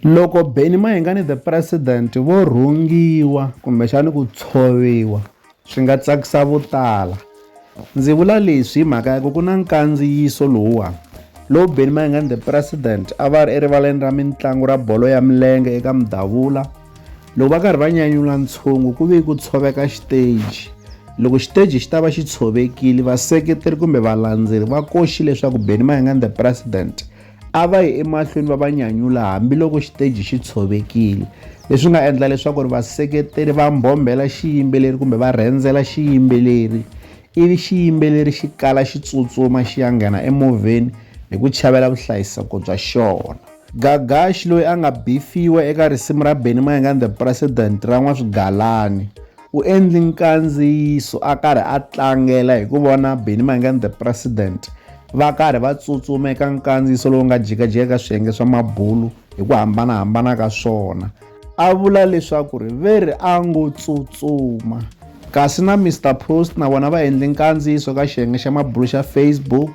Loko Benny Mayengani the President vo rhungiwa kumbexani ku tshoviwa swi nga tsakisa vo tala. Ndzi vula leswi hi mhaka ya ku ku na nkandziyiso lowuwani lowu Benny Mayengani the President a va ri erivaleni ra mitlangu ra bolo ya milenge eka Mudavula loko va karhi va nyanyula ntshungu ku ve ku tshoveka xiteji loko xiteji xi ta va xi tshovekile vaseketeri kumbe valandzeri va koxi leswaku Benny Mayengani the President a va yi emahlweni va va nyanyula hambiloko xiteji xi tshovekile leswi nga endla leswaku ri vaseketeri va mbhombhela xiyimbeleri kumbe va rhendzela xiyimbeleri ivi xiyimbeleri xi kala xi tsutsuma xi ya nghena emovheni hi ku chavela vuhlayiseko bya xona gagaxi loyi a nga bifiwa eka risimu ra benny mayenga and the president ra n'waswigalani U endli nkandziyiso a karhi a tlangela hi ku vona Benny Mayengani The President va karhi va tsutsuma eka nkandziyiso lowu nga jikajika ka swiyenge swa mabulu hi ku hambanahambana ka swona. A vula leswaku ri ve ri a ngo tsutsuma. Kasi na Mister Post na vona va endli nkandziyiso ka xiyenge xa mabulu xa Facebook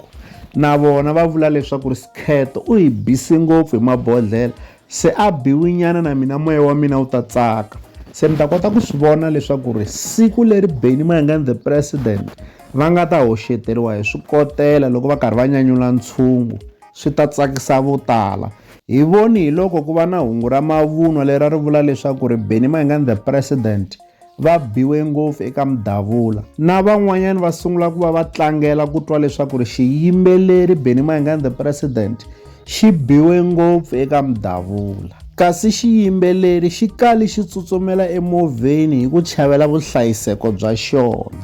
na vona va vula leswaku ri Skhetho u hi bisi ngopfu hi mabodhlela Se a Biwinyana na mina moya wa mina wu ta tsaka. Se mi ta kota ku swi vona leswaku ri siku leri Benny Mayengani the president va nga ta hoxeteriwa hi swikotela loko va karhi va nyanyula ntshungu swi ta tsakisa vo tala. Hi voni hi loko ku va na hungu ra mavunwa lera ri vula leswaku ri Benny Mayengani the president va biwe ngopfu eka mudavula na van'wanyana va sungula ku va va tlangela ku twa leswaku ri xiyimbeleri Benny Mayengani the president xi biwe ngopfu eka mudavula kasi xiyimbeleri xi kali xi tsutsumela emovheni hi ku chavela vuhlayiseko bya xona